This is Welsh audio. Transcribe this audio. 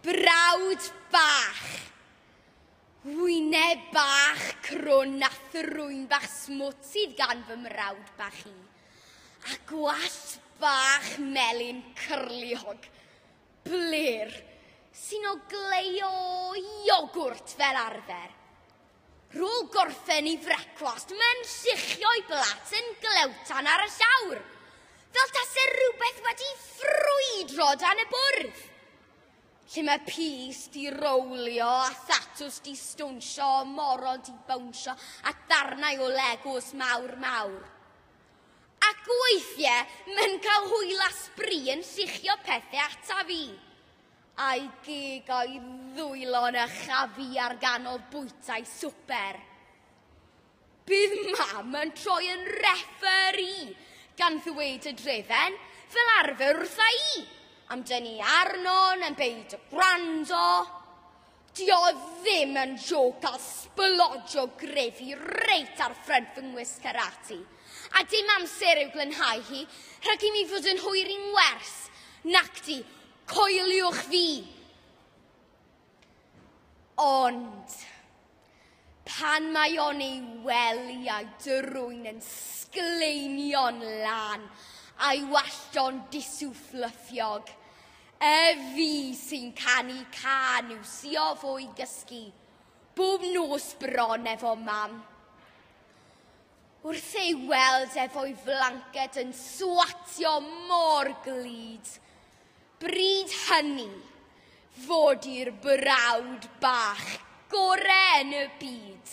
Brawd bach. Wyneb bach crwn a thrwyn bach smwt sydd gan fy mrawd bach i. A gwallt bach melyn cyrliog. Blir sy'n ogleio iogwrt fel arfer. Rôl gorffen i frecwast, mae'n lluchio'i blat yn glewtan ar y llawr, fel tase rhywbeth wedi ffrwydro dan y bwrdd. Lle mae pys di rowlio a thatws di stwnsio, moron di bawnsio a darnau o legos mawr mawr. Ac weithiau, mae'n cael hwyl a sbri yn lluchio pethau ataf i. A'i gig o'i ddwylo yn y chafi ar ganol bwytai swper. Bydd Mam yn troi yn referi, gan ddweud y drefen, fel arfer wrtha i, am dynnu arnon am beidio gwrando. Dio o ddim yn jôc cael sblodio grefi reit ar ffrynt fy ngwisg karate, a dim amser i'w glanhau hi rhag i mi fod yn hwyr i'n wers, nacdi? Coeliwch fi. Ond, pan mae o'n ei weliau drwy'n yn sgleinio'n lan a'i wallto'n disw fflyffiog, y fi sy'n canu can i'w sio fo'i gysgu, bob nos bron efo mam. Wrth ei weld ef o'i flanced yn swatio mor glyd. Bryd hynny, fod i'r brawd bach gore yn y byd.